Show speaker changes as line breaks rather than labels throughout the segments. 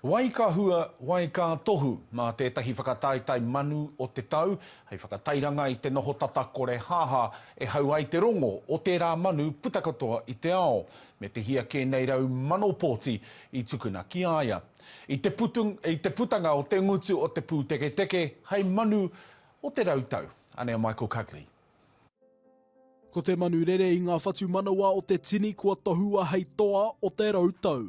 Wai ka hua, wai ka tohu, mā tētahi whakataetae manu o te tau, hei whakatairanga i te noho tata kore haha e hau ai te rongo o tērā manu puta katoa i te ao, me te hia kē nei rau mano pōti i tukuna ki a ia. I te putu, i te putanga o te ngutu o te pūteketeke hei manu o te rau tau. Anei a Michael Cuddly.
Ko te manu rere i ngā whatumanawa o te tini kua tohua hei toa o te rau tau.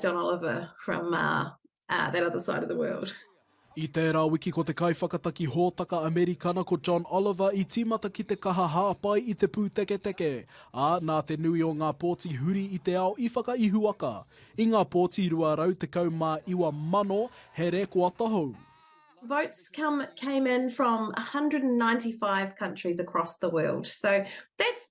John Oliver from that other side of the world. I tērā
wiki ko te kaiwhakataki hōtaka Amerikana ko John Oliver i tīmata ki te kaha hāpai i te pūteketeke, ā, nā te nui o ngā pōti huri i te ao i whakaihuwaka. I ngā pōti 219,000 he rēkoa tahou. Votes
come, came in from 195 countries across the world. So that's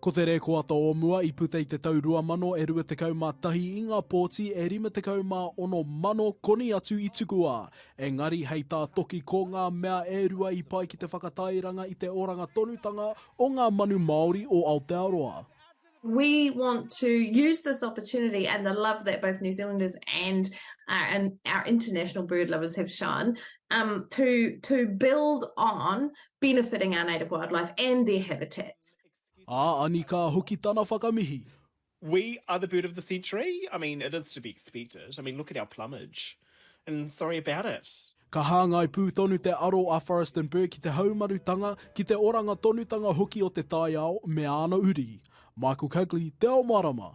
Ko te rēkoata
o mua i puta i te tau 2021 i ngā pōti e 56 mano koni atu i tukua, engari hei tā Toki ko ngā mea e rua i pai ki te whakatairanga i te oranga tonutanga o ngā manu Māori o Aotearoa. We
want to use this opportunity and the love that both New Zealanders and our international bird lovers have shown to build on benefiting our native wildlife and their habitats. Ā, Anikā
hoki tana whakamihi. We are
the bird of the century, I mean, it is to be expected, I mean, look at our plumage, and sorry about it. Ka hāngai pū
tonu te aro a Forrest and Burke ki te haumarutanga, ki te oranga tonutanga hoki o te taiao me āna uri. Michael Cugley, Te Ao Mārama.